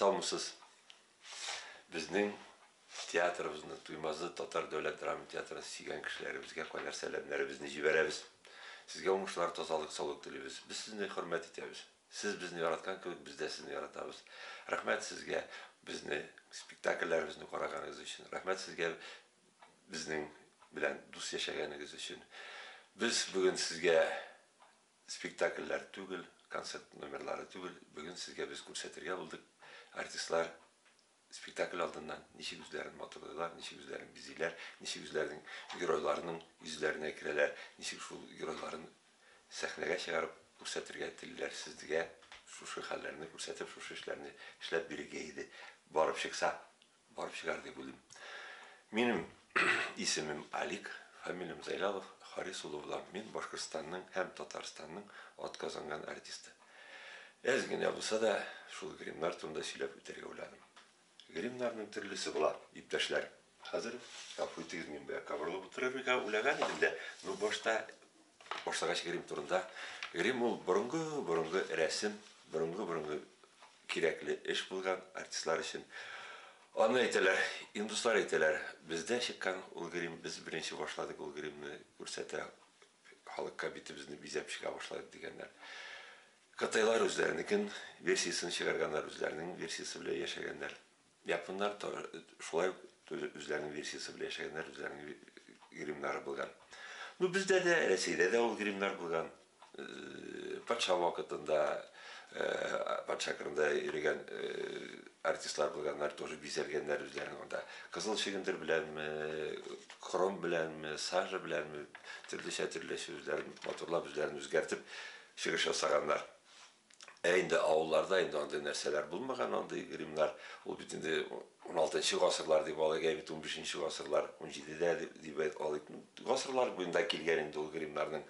Салмысыз. Безнең театрыбызны Туймазы татар дәүләт драма театрын сөйгән кешеләребезгә кайнар сәламнәребезне җибәрәбез. Сезгә уңышлар, тазалык, саулык телибез. Без сезне хөрмәт итәбез. Сез безне яраткан кебек без дә сезне яратабыз. Рәхмәт сезгә безне спектакльләребезне караганыгыз өчен. Рәхмәт сезгә безнең белән дус яшәгәнегез өчен. Без бүген сезгә спектакльләр түгел, концерт номерлары түгел, бүген сезгә без күрсәтергә булдык, артистлар, Спектакль алдыннан ничек үзләрен матурлыйлар, ничек үзләрен бизиләр, ничек үзләренең геройларының йөзләренә керәләр, ничек шул геройларын сәхнәгә чыгарып күрсәтергә телиләр, сезгә шушы хәлләрне күрсәтеп, шушы эшләрне эшләп бирергә иде. Барып чыкса, барып чыгар дип уйлыйм. Минем Исемем Алик, фамилиям Зайлялов Харис улы булам. Мин Башкортстанның һәм Татарстанның атказанган артисты. Әз генә булса да, шул гримнар турында сөйләп үтәргә уйладым. Гримнарның төрлесе була, иптәшләр. Хәзер, гафу итегез, мин бая кабырлап утырырга уйлаган идем дә, ну башта башлагач грим турында. Грим ул борынгы-борынгы рәсем, борынгы-борынгы Кирәкле эш булган артистлар өчен. Аны әйтәләр, индуслар әйтәләр, бездә чыккан ул грим, без беренче башладык ул гримны күрсәтә халыкка, битебезне бизәп чыга башладык дигәннәр. Кытайлар үзләренекен версиясен чыгарганнар, үзләренең версиясе белән яшәгәннәр. Японнар та шулай ук үзләренең версиясе белән яшәгәннәр, үзләренең гримнары булган. Ну, бездә дә, Рәсәйдә дә ул гримнар булган. Патша вакытында, патша кырында йөрегән артистлар булганнар, тоже бизәлгәннәр үзләрен анда. Кызыл чөгендер беләнме, хром беләнме, сажа беләнме, төрлечә-төрлечә үзләрен матурлап, үзләрен үзгәртеп чыгыш ясаганнар. Ә инде авылларда инде андый нәрсәләр булмаган, андый гримнар. Ул бит инде уналтынчы гасырлар дип алыйк, ә бит унбишенче гасырлар, унҗидедә дип алыйк. Гасырлар буенда килгән инде ул гримнарның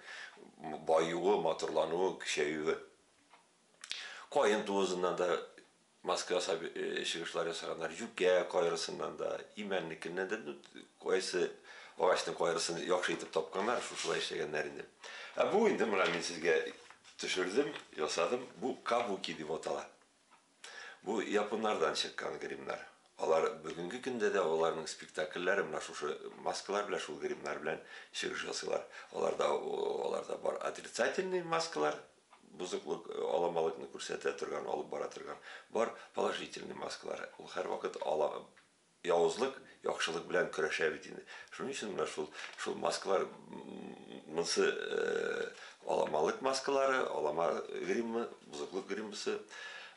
баюы, матурлануы, көчәюе. Каен туызыннан да Маска ясап чыгышлар ясаганнар, юкә кайрысыннан да, имәннекеннән дә, ну, кайсы агачның кайрысын яхшы итеп тапканнар, шушылай эшләгәннәр инде. Ә бу инде менә мин сезгә төшердем, ясадым, бу кабуки дип атала. Бу японнардан чыккан гримнар. Алар бүгенге көндә дә аларның спектакльләре менә шушы маскалар белән, шул гримнар белән чыгыш ясыйлар. Аларда, аларда бар отрицательный маскалар, бозыклык, аламалыкны күрсәтә торган, алып бара торган. Бар положительный маскалар. Ул һәрвакыт ала явызлык, яхшылык белән көрәшә бит инде. Шуның өчен менә шул шул маскалар монсы аламалык маскалары, алама гримы, бозыклык гримысы.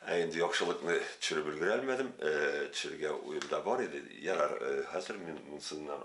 Ә инде яхшылыкны төшереп өлгерә алмадым. Төшерергә уем да бар иде. Ярар, хәзер мин монсыннан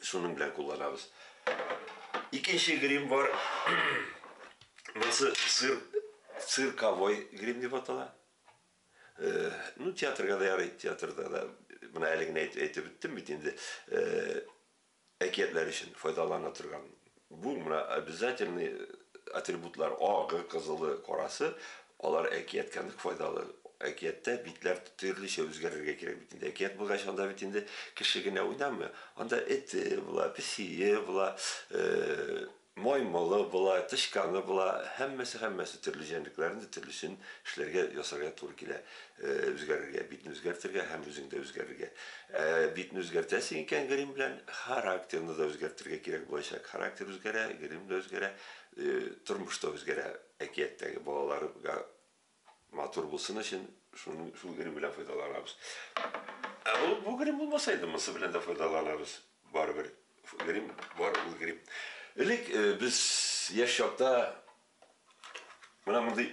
Шуның белән кулланабыз. Икенче грим бар. Монысы цир, цирковой грим дип атала. Э, ну, театрга да ярый, театрда да. Менә әле генә әйтеп беттем бит инде. Э, әкиятләр өчен файдалана торган Бу менә обязательный атрибутлар, агы, кызылы, карасы, алар әкияткә нык файдалы. Әкияттә битләр төрлечә үзгәрергә кирәк бит инде. Әкият булгач, анда бит инде кеше генә уйнамый, анда эте була, песие була, маймылы була, тычканы була, һәммәсе-һәммәсе төрле җәнлекләрне төрлесен эшләргә, ясарга туры килә. Үзгәрергә, битне үзгәртергә һәм үзең дә үзгәрергә. Ә битне үзгәртәсең икән грим белән, характерны да үзгәртергә кирәк булачак. Характер үзгәрә, грим дә үзгәрә, тормыш та үзгәрә. Әкияттәге балаларга матур булсын өчен шуның, шул грим белән файдаланабыз. Ә бу, бу грим булмаса инде, монсы белән дә файдаланабыз. Барыбер грим бар, ул грим. Элек без яшь чакта менә мондый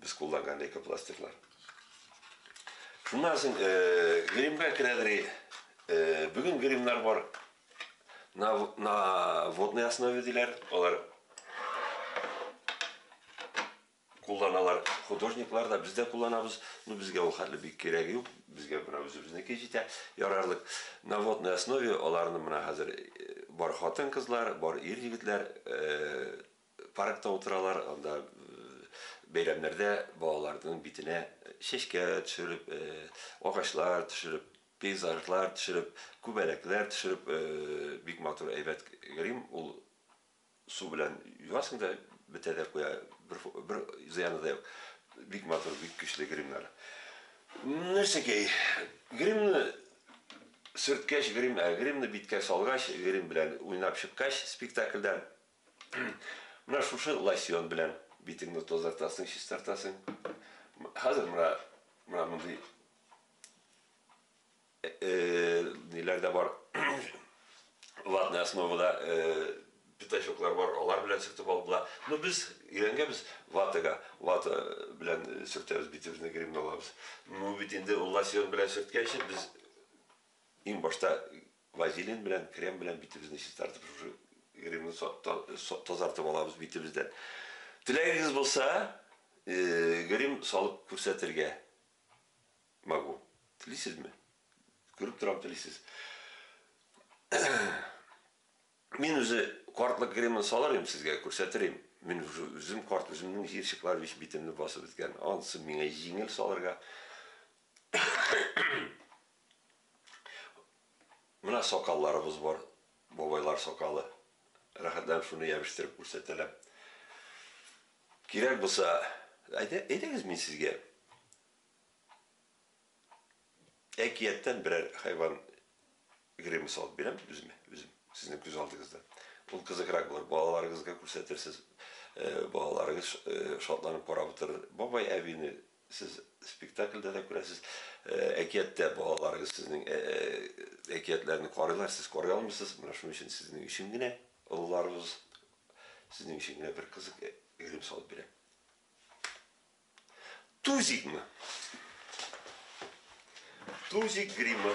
Без кулланган лейкопластирлар. Шуннан соң гримга керәдер. Бүген гримнар бар. На, на водной основе диләр. Алар кулланалар художниклар да, без дә кулланабыз. Ну, безгә ул хәтле бик кирәге юк. Безгә менә үзебезнеке җитә. Ярарлык. На водной основе аларны менә хәзер бар хатын-кызлар, бар ир-егетләр Паркта утыралар, анда бәйрәмнәрдә балаларның битенә чәчкә төшереп, агачлар төшереп, пейзажлар төшереп, күбәләкләр төшереп, бик матур әйбәт грим, ул су белән юасың да бетә дә куя, бер бер зыяны да юк. Бик матур, бик көчле гримнар. Нәрсәгә гримны сөрткәч, грим, гримны биткә салгач, грим белән уйнап чыккач, спектакльдә Менә шушы лосьон белән битеңне тазартасың, чистартасың. Хәзер менә менә мондый ниләр дә бар. Ватная основада пятачоклар бар, алар белән сөртеп алдыла. Ну без өйрәнгәнбез ватага, вата белән сөртәбез битебезне гримны алабыз. Ну бит инде ул лосьон белән сөрткәнче без иң башта Вазелин белән, крем белән битебезне чистартып, шушы гримны тазартып алабыз битебездән. Теләгегез булса, грим салып күрсәтергә могу. Телисезме? Күреп торам, телисез. Мин үзе картлык гримын салыр идем сезгә, күрсәтер идем. Мин уже үзем карт, үземнең җыерчыклар весь битемне басып беткән. Ансы миңа җиңел салырга. Менә сакалларыбыз бар, бабайлар сакалы. Рәхәтләнеп шуны ябештереп күрсәтәләр. Кирәк булса, әйдәгез мин сезгә әкияттән берәр хайван гримы салып бирәм, үзем, үзем, сезнең күз алдыгызда. Ул кызыграк булыр, балаларыгызга күрсәтерсез, балаларыгыз шатланып карап утырыр. Бабай әбине Сез спектакльдә дә күрәсез, әкияттә балаларыгыз сезнең әкиятләрне карыйлар, сез карый алмыйсыз, менә шуның өчен сезнең өчен генә олыларыбыз сезнең өчен генә бер кызык грим салып бирә. Тузикмы? Тузик гримы.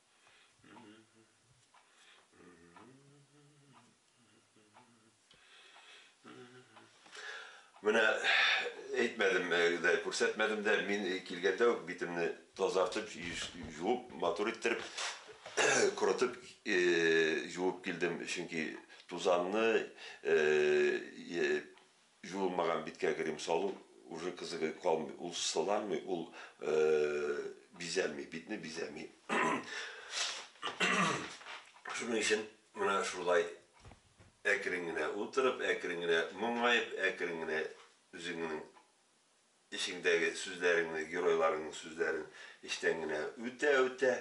Менә әйтмәдем дә, күрсәтмәдем дә, мин килгәндә үк битемне тазартып, җуып, матур иттереп, корытып, җуып килдем, чөнки тузанны Җуылмаган биткә крем салу уже кызыгы калмый, ул сыланмый, ул бизәми, битне бизәми. Шуның өчен менә шулай әкрен генә утырып, әкрен генә моңаеп, әкрен генә үзеңнең Эчеңдәге сүзләреңне, геройларыңның сүзләрен эчтән генә үтә-үтә,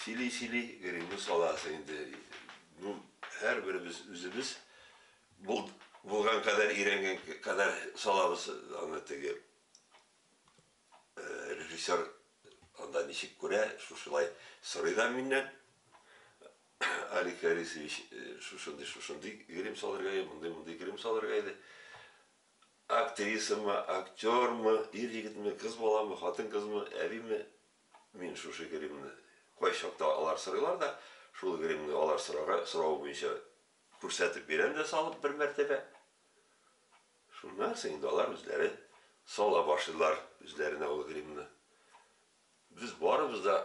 сөйли-сөйли гримны саласың инде. Ну, һәрберебез үзебез булган кадәр, өйрәнгән кадәр салабыз аны. Теге режиссер анда ничек күрә, шушылай сорый да миннән. Алик Харисович, шушындый-шушындый грим салырга иде, мондый-мондый грим салырга иде. Актрисамы, актёрмы, ир-егетме, кыз баламы, хатын-кызмы, әбиме, мин шушы гримны, кайчакта алар сорыйлар да, шул гримны алар сорарга, соравы буенча күрсәтеп бирәм дә салып бер мәртәбә. Шуннан соң инде алар үзләре сала башлыйлар үзләренә ул гримны. Без барыбыз да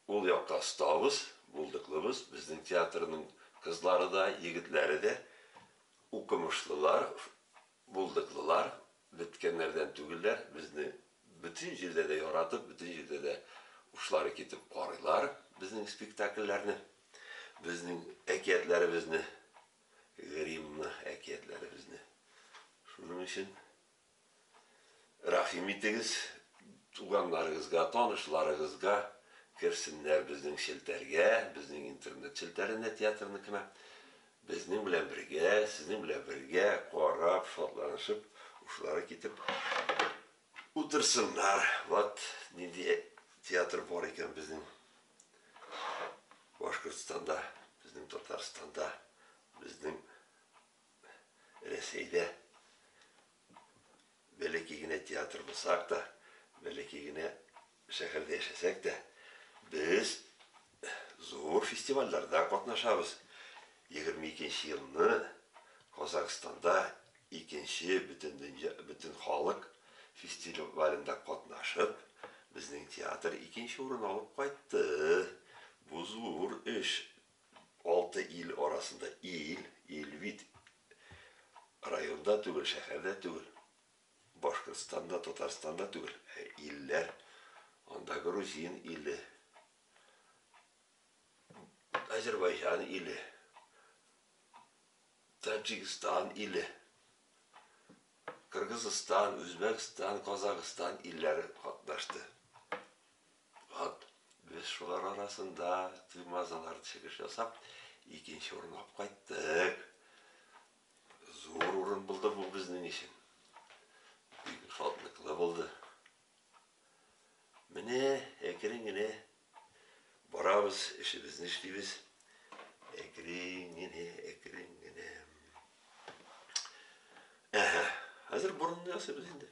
Ул якта остабыз, булдыклыбыз, безнең театрның кызлары да, егетләре дә укымышлылар, булдыклылар, беткәннәрдән түгелләр, безне бөтен җирдә дә яратып, бөтен җирдә дә учлары китеп карыйлар безнең спектакльләрне, безнең әкиятләребезне, Гриммны әкиятләребезне. Шуның өчен. Рәхим итегез, туганнарыгызга, танышларыгызга керсеннәр безнең челтәргә, безнең интернет челтәренә театрныкына. Безнең белән бергә, сезнең белән бергә карап, шатланышып, ушлары китеп утырсыннар. Вот нинди театр бар икән безнең Башкортстанда, безнең Татарстанда, безнең Рәсәйдә бәләкәй генә театр булсак та, бәләкәй генә шәһәрдә яшәсәк тә, без зур фестивальләрдә катнашабыз. 22 нче елны Казахстанда икенче бөтендөнья, бөтенхалык фестивалендә катнашып, безнең театр икенче урын алып кайтты. Бу зур эш. Алты ил арасында ил, ил бит районда түгел, шәһәрдә түгел, Башкортстанда, Татарстанда түгел, ә илләр, анда Грузин иле, Азербайҗан иле, Таджикстан иле, Кыргызстан, Үзбәкстан, Казахстан илләре катнашты. Ват, без шулар арасында Туймазылар чыгыш ясап, икенче урын алып кайттык. Зур урын булды бу безнең өчен. Бик шатлыклы булды. Менә әкрен генә барабыз, эшебезне эшлибез. Әкрен генә, әкрен генә. Әһә, хәзер борынны ясыйбыз инде.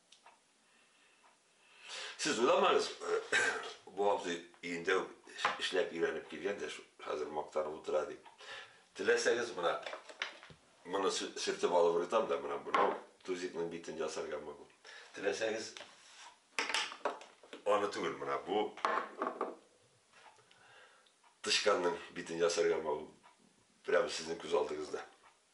Сез уйламагыз, бу абзый өендә үк эшләп өйрәнеп килгән дә, хәзер мактанып утыра дип. Теләсәгез, менә моны сөртеп алып рытам да, менә бу тузикның битен ясарга могу. Теләсәгез, аны түгел, менә бу тычканның битен ясарга могу. Прямо сезнең күз алдыгызда.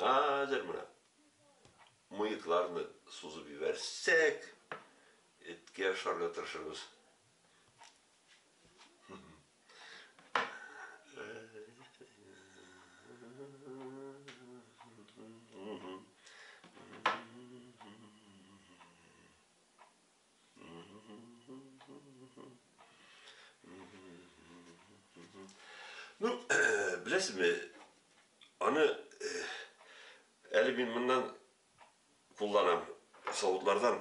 Хәзер менә мыекларны сузып ебәрсәк, эткә ашарга тырышырбыз. Ну, беләсезме, аны э, әле мин моннан кулланам, савытлардан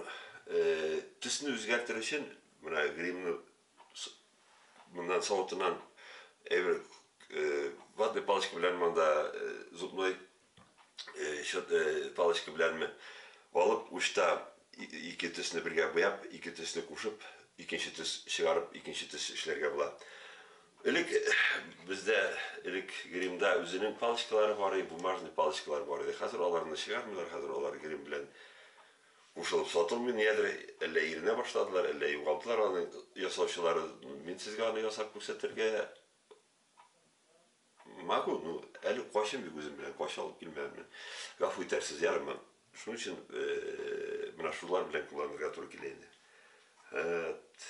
э, төсне үзгәртер өчен, менә гримны Моннан савытыннан әйбер ватный палочка белән монда зубной палочка беләнме алып учта ике төсне бергә буяп, ике төсне кушып, икенче төс чыгарып, икенче төс эшләргә була. Элек бездә элек гримда үзенең палочкалары бар иде, бумажный палочкалар бар иде. Хәзер аларны чыгармыйлар, хәзер алар грим белән Кушылып сатылмый нигәдер, әллә иренә башладылар, әллә югалдылар аны ясаучылары, мин сезгә аны ясап күрсәтергә могу, ну, әле качым юк үзем белән, кача алып килмәгән мен, гафу итәрсез, ярыймы? Шуның өчен менә шулар белән кулланырга туры килә инде. Һәт.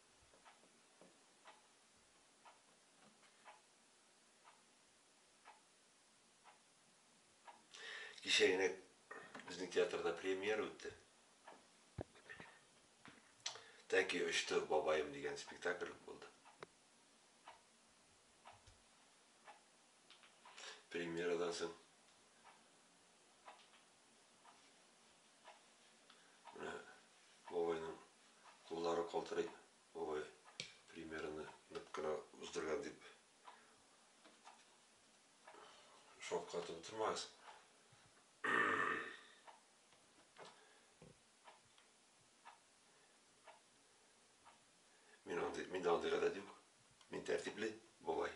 Кичә генә безнең театрда премьера үтте. Тәки очты бабаем дигән спектакль булды. Премьерадан соң Менә бабайның куллары калтырый. Бабай примерны нык кына уздырган дип шокка тотылмагыз. Мин андый, мин дә андый гадәт юк. Мин тәртипле бабай.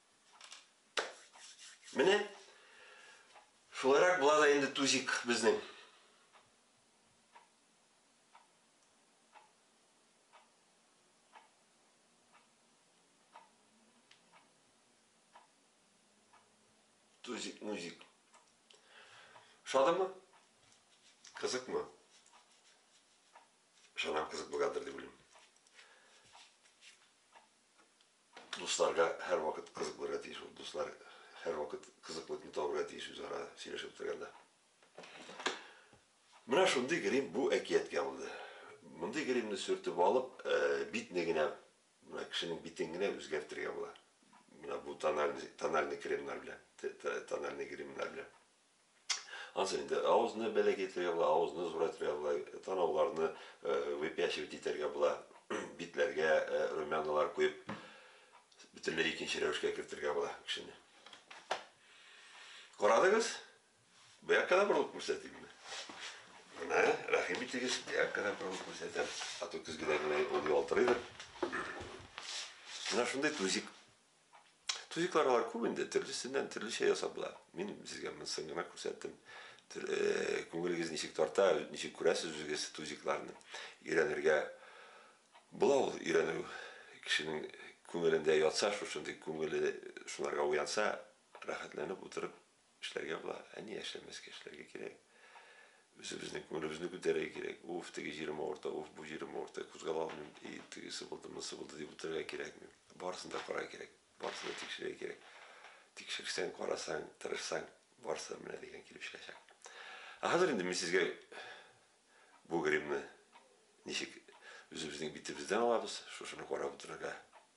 Менә шулайрак була да инде тузик безнең. Тузик, музик. Шадымы? Кызыкмы? Шанам кызык булгандыр дип уйлыйм. Дусларга һәрвакыт кызык булырга тиеш ул. Дуслар һәрвакыт кызыклыкны табырга тиеш үзара сөйләшеп утырганда. Менә шундый грим бу әкияткә булды. Мондый гримны сөртеп алып, битне генә, менә кешенең битен генә үзгәртергә була. Менә бу тональный тональный кремнар белән, тональный гримнар белән. Ансы инде авызны бәләкәй итәргә була, авызны зурайтырга була, танауларны выпячивать итәргә була, битләргә румяналар куеп, бөтенләй икенче рәвешкә кертергә була кешене. Карадыгыз? Бу якка да борылып күрсәтимме? Менә, рәхим итегез, бу якка да борылып күрсәтәм. Ату көзгедә генә ул ялтырыйдыр. Менә шундый тузик. Тузиклар алар күп инде, төрлесеннән төрлечә ясап була. Мин сезгә монысын гына күрсәттем. Э, күңелегез ничек тарта, ничек күрәсез үзегез тузикларны. Өйрәнергә була ул өйрәнү кешенең күңелендә ятса, шушындый күңеле шуларга уянса, рәхәтләнеп утырып Эшләргә була, ә ни яшәмәскә, эшләргә кирәк. Үзебезнең күңелебезне күтәрергә кирәк. Уф, теге җирем авырта, уф, бу җирем авырта, кузгала алмыйм, и, тегесе булды, монысы булды, дип утырырга кирәкми. Барысын да карарга кирәк, барысын да тикшерергә кирәк. Тикшерсәң, карасаң, тырышсаң, барысы да менә дигән килеп чыгачак. Ә хәзер инде мин сезгә бу гримны ничек үзебезнең битебездән алабыз, шушыны карап утырырга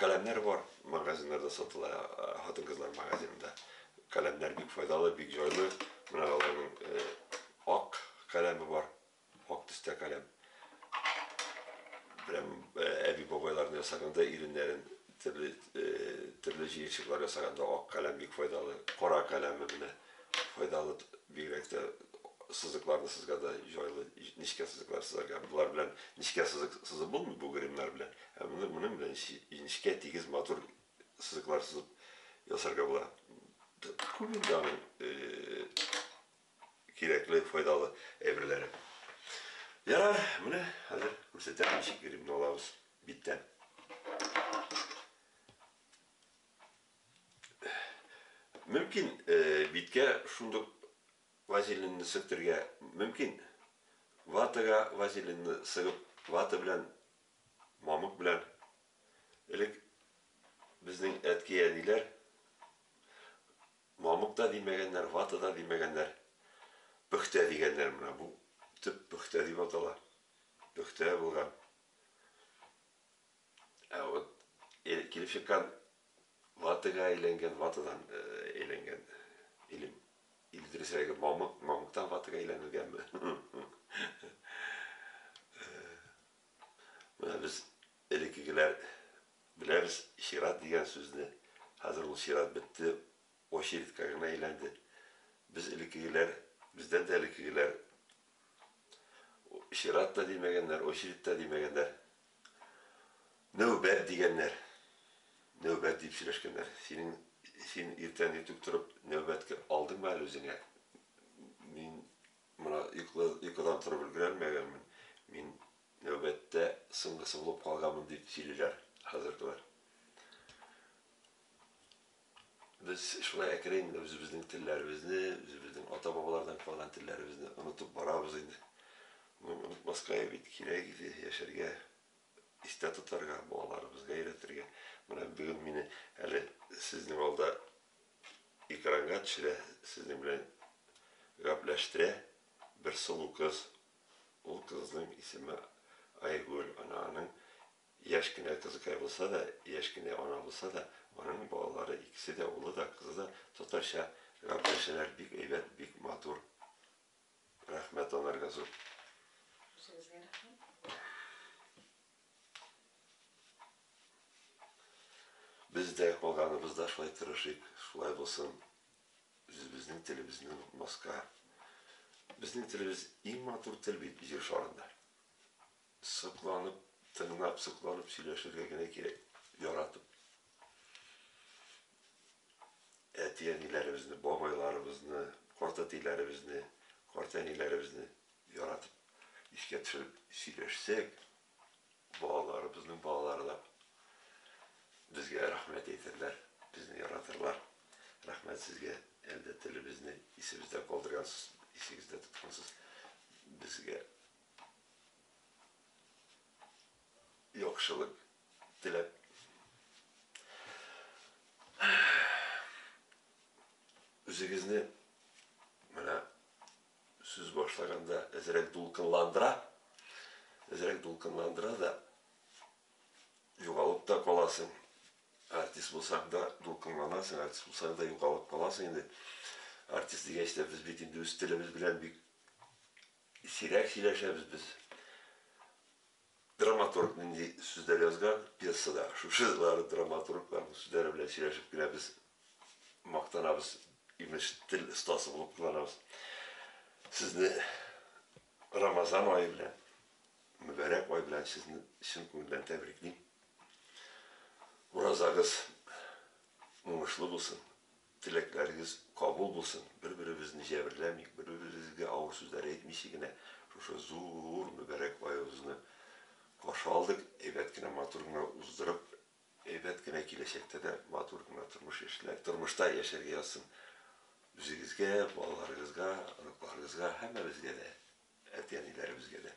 Каләмнәр бар, магазиннарда сатыла, хатын-кызлар магазинында. Каләмнәр бик файдалы, бик җайлы. Менә аларның ак каләме бар, ак төстә каләм. Прям әби-бабайларны ясаганда иреннәрен төрле төрле җыерчыклар ясаганда ак каләм бик файдалы. Кара каләме менә файдалы, бигрәк тә сызыкларны сызганда җайлы, нечкә сызыклар сызарга. Болар белән нечкә сызык сызып булмый, бу гримнар белән. Ә моны моның белән ничек инешкә тигез матур сызыклар сызып ясарга була. Күп инде аның кирәкле, файдалы әйберләре. Ярар, менә хәзер күрсәтәм ничек грибны алабыз биттән. Мөмкин биткә шундук вазелинны сөртергә мөмкин. Ватага вазелинны сыгып, вата белән мамык белән. Элек безнең әткәй-әниләр мамык та димәгәннәр, вата да димәгәннәр, пөхтә дигәннәр. Менә бу төп пөхтә дип атала. Пөхтә булган. Ә вот килеп чыккан ватага әйләнгән, ватадан әйләнгән илем. Или дөресрәге мамык, мамыктан ватага әйләнелгәнме? Менә без элеккегеләр беләбез чират дигән сүзне. Хәзер ул чират бетте, очередька гына әйләнде. Без элеккегеләр, бездән дә элеккегеләр чират та димәгәннәр, очередь та димәгәннәр. Нәүбәт дигәннәр. Нәүбәт дип сөйләшкәннәр. Синең, син иртән иртүк торып нәүбәткә алдыңмы әле үзеңә? Мин Менә йокыдан торып өлгерәлмәгәнмен, мин нәүбәттә соңгысы булып калганмын, дип сөйлиләр хәзергеләр. Без шулай әкрен генә үзебезнең телләребезне, үзебезнең ата-бабалардан калган телләребезне онытып барабыз инде. Моны онытмаска бит кирәк иде, яшәргә, истә тотарга, балаларыбызга өйрәтергә. Менә бүген мине әле сезнең алда экранга төшерә, сезнең белән гапләштерә бер сылу кыз. Ул кызның исеме Айгөл. Ана аның яшь кенә кызыкай булса да, яшь кенә ана булса да, аның балалары икесе дә, улы да, кызы да татарча гапләшәләр, бик әйбәт, бик матур. Рәхмәт анарга зур. Үзегезгә рәхмәт. Без дә, калганыбызда шулай тырышыйк, шулай булсын, үзебезнең телебезне онытмаска. Безнең телебез иң матур тел бит җир шарында. Сокланып, тыңлап, сокланып сөйләшергә генә кирәк, яратып. Әти-әниләребезне, бабайларыбызны, картәтиләребезне, картәниләребезне яратып. искә төшереп сөйләшсәк, балаларыбызның балалары да безгә рәхмәт әйтерләр, безне яратырлар. Рәхмәт сезгә, әлдә телебезне исебездә калдыргансыз, исегездә тоткансыз. Безгә яхшылык теләп үзегезне менә Сүз башлаганда әзрәк дулкынландыра, әзрәк дулкынландыра да, югалып та каласың. Артист булсаң да дулкынланасың, артист булсаң да югалып каласың инде. Артист дигәч тә без бит инде үз телебез белән бик сирәк сөйләшәбез без. Драматург нинди сүзләр язган пьесада, шушы җырлары драматургларның сүзләре белән сөйләшеп кенә без мактанабыз, имеш, тел остасы булып кыланабыз. Сезне Рамазан ае белән, мөбарәк ай белән сезне чын күңелдән тәбриклим. Уразагыз уңышлы булсын. Теләкләрегез кабул булсын, бер-беребезне җәберләмик, бер-беребезгә авыр сүзләр әйтмичә генә шушы зур мөбарәк аебызны каршы алдык, әйбәт кенә, матур гына уздырып, әйбәт кенә киләчәктә дә матур гына тормыш яшьләр, тормышта яшәргә язсын үзегезгә, балаларыгызга, оныкларыгызга, һәммәбезгә дә, әти-әниләребезгә дә.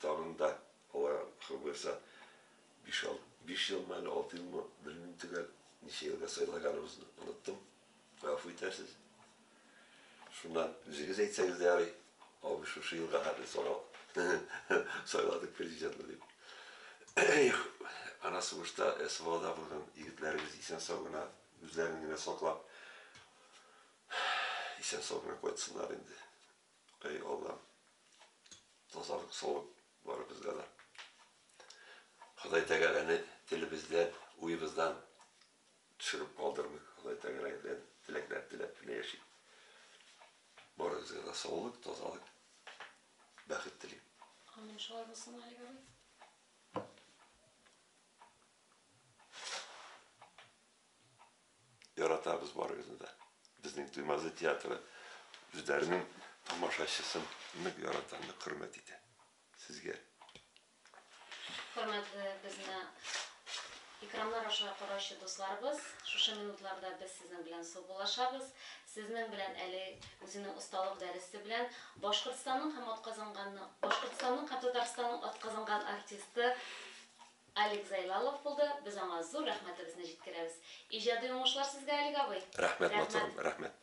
Тагын да, Алла хак боерса, биш елмы, әле алты елмы, белмим төгәл, ничә елга сайлаганыбызны оныттым, гафу итәрсез. Шуннан үзегез әйтсәгез дә ярый, абый шушы елга хәтле сайладык президентны дип. Их, ана сугышта СВОда булган егетләребез исән-сау гына, үзләрен генә саклап, исән-сау гына кайтсыннар инде. Эй Аллам, тазалык саулык барыбызга да. Ходай Тәгаләне телебездән, уебыздан төшереп калдырмый. Ходай Тәгаләдән теләкләр теләп кенә яшик. Барыбызга да саулык, тазалык, бәхет телим. Амин, шулай булсын, Алик абый. Яратабыз барыгызны да. Безнең Туймазы театры үзләренең тамашачысын нык ярата, нык хөрмәт итә. Сезгә. Хөрмәтле безне экраннар аша караучы дусларыбыз, шушы минутларда без сезнең белән саубуллашабыз. Сезнең белән әле үзенең осталык дәресе белән Башкортстанның һәм атказанган Башкортстанның һәм Татарстанның атказанган артисты Алик Зайлалов булды, без аңа зур рәхмәтебезне җиткерәбез. Иҗади уңышлар сезгә, Алик абый! Рәхмәт, матурым, рәхмәт!